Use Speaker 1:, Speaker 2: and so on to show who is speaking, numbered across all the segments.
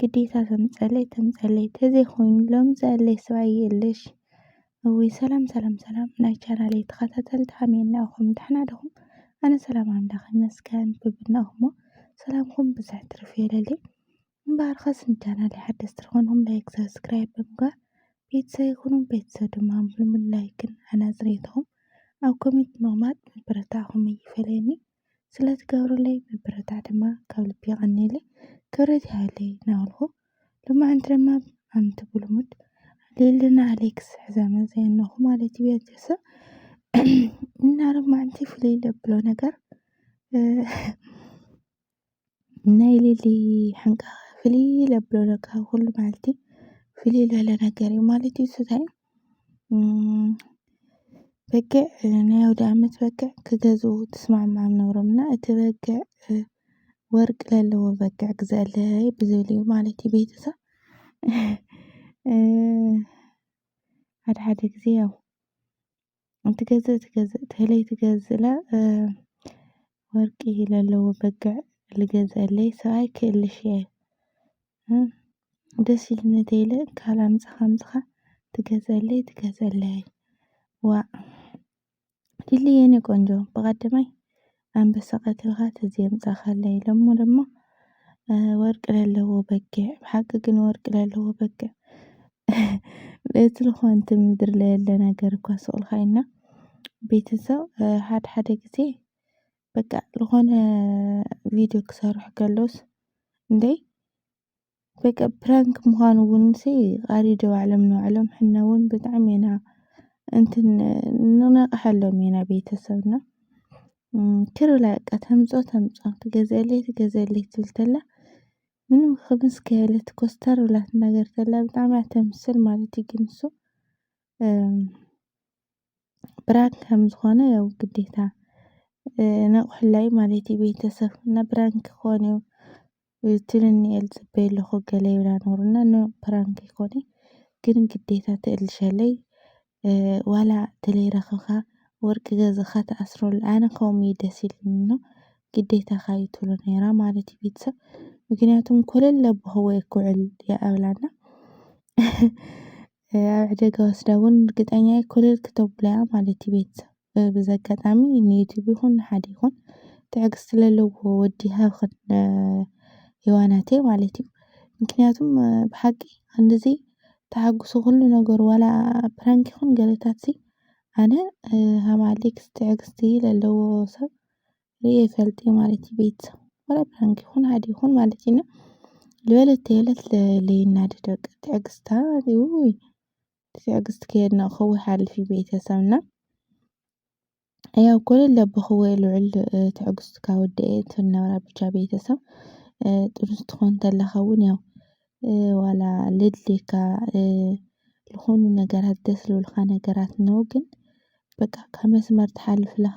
Speaker 1: ግዴታ ከም ዝጸለይ ተምጸለይ ተዘይኮይኑ ሎሚ ዝኣለየ ሰብኣይ የለሽ። እውይ ሰላም ሰላም ሰላም ናይ ቻናለይ ተኸታተልቲ ከመይ እናኹም ደሕና ዲኹም? ኣነ ሰላም ኣምላኽ ይመስገን ብብናኹሞ ሰላምኩም ብዝሕ ትርፍ የለለይ። እምበኣር ኸስ ንቻናለይ ሓደስቲ ዝኾንኩም ላይክ ሰብስክራይብ ብምግባር ቤተሰብ ይኹኑ ቤተሰብ ድማ ምልምል ላይክን ኣናጽሬትኹም ኣብ ኮሜንት ምቕማጥ ምብርታዕኹም ይፈለየኒ። ስለትገብርለይ ምብርታዕ ድማ ካብ ልቢ የቀንየለይ ክብረት ይሃበለይ ናበልኩ ሎማዓንቲ ድማ ኣምቲ ብሉሙድ ሌልና ኣሌክስ ሕዘመ ዘየነኹ ማለት እዩ ቤተሰብ እና ሎማዓንቲ ፍልይ ለብሎ ነገር ናይ ሊሊ ሕንቃ ፍልይ ኢለ ብሎ ካብ ኩሉ መዓልቲ ፍልይ ዝበለ ነገር እዩ ማለት እዩ ስታይ በጊዕ ናይ ኣውደኣመት በጊዕ ክገዝኡ ተስማዕምዖም ነይሮም እና እቲ በጊዕ ወርቂ ዘለዎ በጊዕ ግዘኣለይ ብዝብል እዩ ማለት እዩ ቤተሰብ ሓደ ሓደ ግዜ ያው ትገዝእ ትገዝእ ተለይ ትገዝእለ ወርቂ ለለዎ በግዕ ልገዝአለይ ሰብኣይ ክእልሽ እየ ደስ ኢሉኒ ተይለ ካልእ ኣምጻኻ ኣምጻኻ ትገዝአለይ ትገዝአለይ ዋእ ሊሊ የኔ ቆንጆ ብቀዳማይ ኣንበሳ ቀትልካ ተዘይ ኣምጻካለይ ኢሎሞ ደማ ወርቂ ለለዎ በጊዕ ብሓቂ ግን ወርቂ ለለዎ በጊዕ እቲ ልኾንቲ ምድሪ ለየለ ነገር እኳ ስቕልካ ኢና ቤተሰብ ሓደ ሓደ ግዜ በቃ ልኾነ ቪድዮ ክሰርሑ ከለውስ እንዴ በቃ ፕራንክ ምዃኑ እውን ሲ ኣሪዶ ባዕሎም ንባዕሎም ሕነ እውን ብጣዕሚ ኢና እንትን ንነቕሐሎም ኢና ቤተሰብና ክር ብላ በቃ ተምፆ ተምፆ ትገዝአለይ ትገዝአለይ ትብል ተላ ምንም ክምስ ከየለት ኮስተር ብላ ትናገር ተላ ብጣዕሚ እያ ተምስል ማለት እዩ ግን እሱ ፕራንክ ከም ዝኾነ ያው ግዴታ ነቑሕላይ ማለት እዩ ቤተሰብ እና ፕራንክ ክኾን እዩ እቲ ንኒኤል ዝጽበዮ ኣለኹ ገለ ይብላ ኑር እና ን ፕራንክ ይኮነ ግን ግዴታ ትእልሸለይ ዋላ ተለይረክብካ ወርቂ ገዝእካ ትኣስረሉ ኣነ ከምኡ እዩ ደስ ኢልኒ ን ግዴታካ እዩ ትብሎ ነይራ ማለት እዩ ቤተሰብ ምክንያቱም ኮለል ኣቦክዎ እየ ክውዕል እያ ኣብላና ኣብ ዕደጋ ወስዳ እውን እርግጠኛ እየ ኩልል ክተብሎ እያ ማለት እዩ ቤተሰብ። በዚ ኣጋጣሚ ንዩቲዩብ ይኹን ንሓደ ይኹን ትዕግስቲ ለለዎ ወዲ ሃብኽን ሔዋናተይ ማለት እዩ። ምክንያቱም ብሓቂ ክንድዚ ተሓጉሱ ኩሉ ነገሩ ዋላ ፕራንክ ይኹን ገለታትሲ ኣነ ሃም ኣሌክስ ትዕግስቲ ለለዎ ሰብ ርእየ ፈልጢ ማለት እዩ ቤት ወላ ፕራንክ ይኹን ሓደ ይኹን ማለት እዩ እና ልበለት ተየለት ለይናዲ ደቂ ትዕግስታ ውይ ትዕግስት ከየድነቕኹ ይሓልፍ እዩ ቤተሰብና ያው ኮለል ለብኽዎ ልዑል ትዕግስቱ ካብ ወደኤ ትነብራ ብቻ ቤተሰብ ጥሩ ስትኾን ተለኻ እውን ያው ዋላ ልድልየካ ዝኾኑ ነገራት ደስ ዝብልካ ነገራት ነው ግን በቃ ካብ መስመር ትሓልፍ ለኻ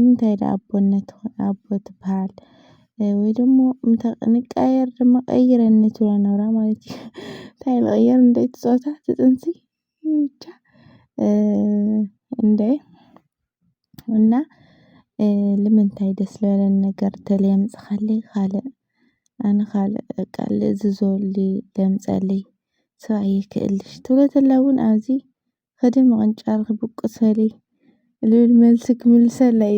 Speaker 1: እንታይ ድኣ ኣቦነት ኣቦ ትብሃል ወይ ደሞ እንተ ንቀያየር ድማ ቀይረኒ ትብሎ ነራ ማለት እዩ። እንታይ ልቕይር እንደ እቲ ጾታ እቲ ጥንሲ ብቻ እንደ እና ንምንታይ ደስ ለለን ነገር ተልየምጽኻሊ ኻልእ ኣነ ኻልእ በቃ ልእዝዞ ለምጸለይ ሰብኣየይ ክእልሽ ትብሎ ተላ ውን ኣዚ ኸደ ምቕንጫር ክብቁሰለይ ልብል መልሲ ክምልሰለይ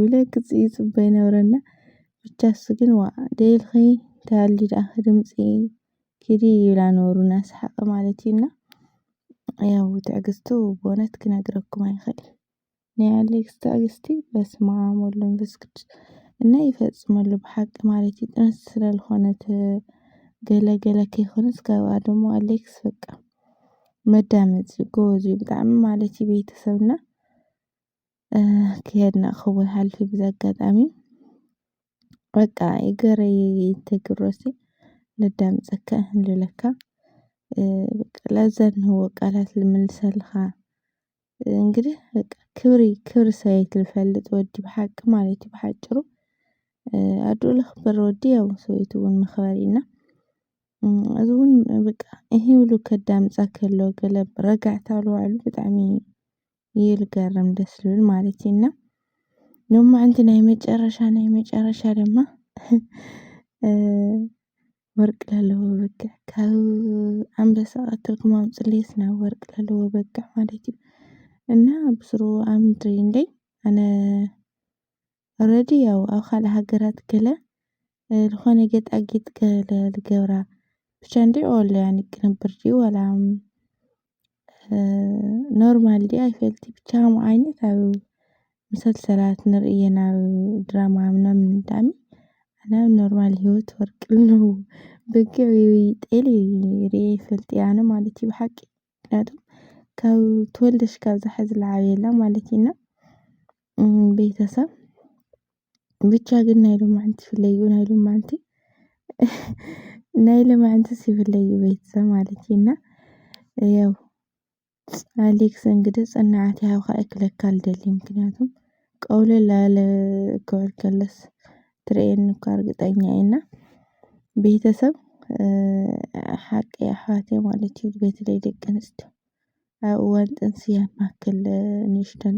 Speaker 1: ኢለ ክጽ ይጽበ ይነብረና ብቻ እሱ ግን ዋእ ደይልኺ እንተሃልዩ ደኣ ክድምጺ ኪዲ ይብላ ነበሩ እናሰሓቐ ማለት እዩና ያው ትዕግስቱ ብእውነት ክነግረኩም ኣይኽእልን። ናይ ኣሌክስ ትዕግስቲ በስማኣም ወልድ መንፈስ ቅዱስ እና ይፈፅመሉ ብሓቂ ማለት እዩ ጥንስቲ ስለልኾነት ገለ ገለ ከይኮነስ ካብኣ ደሞ ኣሌክስ በቃ መዳመፂ እዩ ጎበዝ እዩ ብጣዕሚ ማለት እዩ ቤተሰብና ክየድና ክቡር ሓልፊ ብዚ ኣጋጣሚ በቃ ይገረይ ተግሮሲ ለዳምፀካ ንልለካ በቃ ላዘንህዎ ቃላት ልምልሰልኻ እንግዲህ በቃ ክብሪ ክብሪ ሰበይቲ ዝፈልጥ ወዲ ብሓቂ ማለት እዩ ብሓጭሩ ኣዱኡ ለኽብር ወዲ ያው ሰበይቱ እውን መኽበሪ እና እዚ እውን በቃ ይሄ ሁሉ ከዳምፃ ከሎ ገለ ረጋዕታ ኣለዋዕሉ ብጣዕሚ እዩ ልገርም ደስ ልብል ማለት እዩ እና ሎማዕንቲ ናይ መጨረሻ ናይ መጨረሻ ድማ ወርቅ ለለዎ በግዕ ካብ ኣንበሳ ቀትልኩም ኣምጽልይ ስናብ ወርቅ ለለዎ በግዕ ማለት እዩ እና ብስሩ ኣምድሪ እንደይ ኣነ ኦረዲ ያው ኣብ ካልእ ሃገራት ገለ ዝኾነ ጌጣጊጥ ገለ ልገብራ ብቻ እንድዒ ኦል ያኒ ቅንብር ድዩ ወላ ኖርማል ዲኣ ኣይፈልጥ ብቻ ከምኡ ዓይነት ኣብ ምሰልሰላት ንርእየን ኣብ ድራማ ምናምን ዳኒ ኣነ ኣብ ኖርማል ሂወት ወርቂ ኣለዎ በጊዕ ወይ ጤል ሪኤ ኣይፈልጥ እየ ኣነ ማለት እዩ ብሓቂ ምክንያቱ ካብ ተወልደሽ ካብዛ ሓዚ ልዓበየላ ማለት እዩ እና ቤተሰብ ብቻ ግን ናይ ሎማዓንቲ ይፍለዩ ናይ ሎማዓንቲ ናይ ሎማዓንትስ ይፍለዩ ቤተሰብ ማለት እዩ እና ያው ኣሌክስ እንግዲህ ፅናዓት ይሃብካ ክብለካ ልደሊ ምክንያቱ ቀውለል ኣለ ክብል ከለስ ትርእየኒ እኳ እርግጠኛ እየ እና ቤተሰብ ሓቂ ኣሕዋት ማለት እዩ በተለይ ደቂ ኣንስትዮ ኣብ እዋን ጥንሲ ያን ያክል ንእሽተን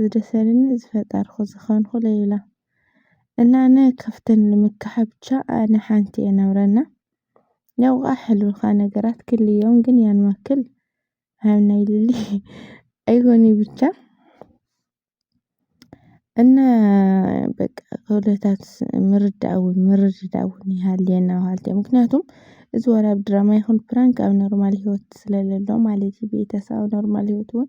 Speaker 1: ዝደሰልኒ ዝፈጠርኩ ዝኸንኩ ለይላ እና ን ከፍትን ልምካሐ ብቻ ኣነ ሐንቲ እየ ናብረና ያው ቃ ሕልብካ ነገራት ክል እዮም ግን ያን ማክል ሀም ናይ ልሊ ኣይኮኒ ብቻ እና በቃ ከሁለታት ምርዳእውን ምርድዳእውን ይሃልየና ውሃልየ ምክንያቱም እዚ ወላ ኣብ ድራማ ይኹን ፕራንክ ኣብ ኖርማል ህይወት ስለለሎ ማለት እዩ ቤተሰብ ኣብ ኖርማል ህይወት እውን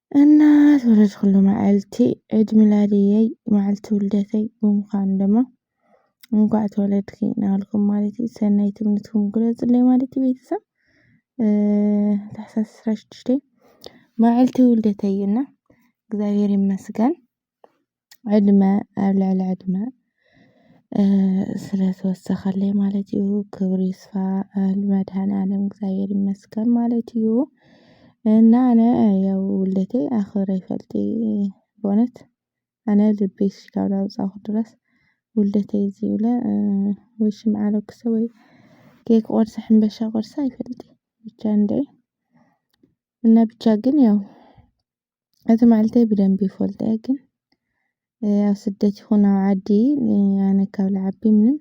Speaker 1: እና ተወለድኩሉ መዓልቲ ዒድ ሚላድየይ መዓልቲ ውልደተይ ብምዃኑ ድማ እንኳዕ ተወለድኪ ናበልኩም ማለት እዩ ሰናይ ትምኒትኩም ግለፁለይ ማለት እዩ ቤተሰብ ታሕሳስ ዕስራ ሽዱሽተ መዓልቲ ውልደተይ እዩና እግዚኣብሔር ይመስገን ዕድመ ኣብ ልዕሊ ዕድመ ስለዝወሰኸለይ ማለት እዩ ክብሪ ይስፋ ንመድኃኒዓለም እግዚኣብሔር ይመስገን ማለት እዩ። እና ኣነ ያው ውልደተይ ኣኽብረ ይፈልጥ በእውነት ኣነ ልበይ እስካብ ላውጻኹ ድረስ ውልደተይ እዚ ኢለ ወይ ሽምዓ ለኩሰ ወይ ኬክ ቆርሰ ሕምበሻ ቆርሰ ኣይፈልጥን ብቻ እንድዒ እና ብቻ ግን ያው እቲ መዓልተይ ብደንቢ ይፈልጦ እየ ግን ኣብ ስደት ይኹን ኣብ ዓዲ ኣነ ካብ ልዓቢ ምንም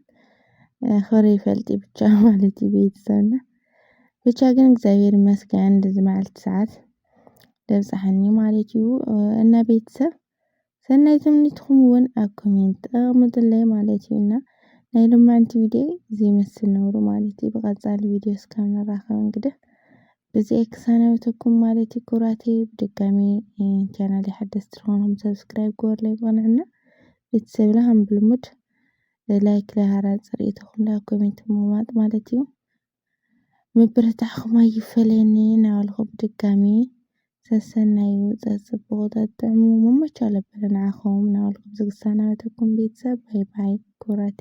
Speaker 1: ኣኽብረ ይፈልጥ ብቻ ማለት እዩ ቤተሰብና ብቻ ግን እግዚኣብሔር ይመስገን እንደዚ መዓልቲ ሰዓት ዘብፀሐኒ ማለት እዩ እና ቤተሰብ ሰናይ ትምኒትኩም እውን ኣብ ኮሜንት ኣቕምጡለይ ማለት እዩ እና ናይ ሎማንቲ ቪድዮ እዚ ይመስል ነብሩ ማለት እዩ። ብቐጻሊ ቪድዮ እስካብ ንራኸብ እንግዲህ ብዚኣ ክሰናበተኩም ማለት እዩ። ክብራተይ ብድጋሚ ቻናል ሓደስቲ ዝኾንኩም ሰብስክራይብ ግበሩለይ ብቕንዕና ቤተሰብና ከም ብልሙድ ላይክ ለሃራ ፅርኢትኹም ላ ኮሜንት ምማጥ ማለት እዩ። ምብርታዕኩም ኣይፈለየኒ እናበልኩ ብድጋሚ ሰሰናዩ ውፅእ ፅቡቕ ጠጥዕሙ መመቸው ለበለ ንዓኹም እናበልኩ ብዝግ ዝሰናበተኩም ቤተሰብ ባይ ባይ ኩራቴ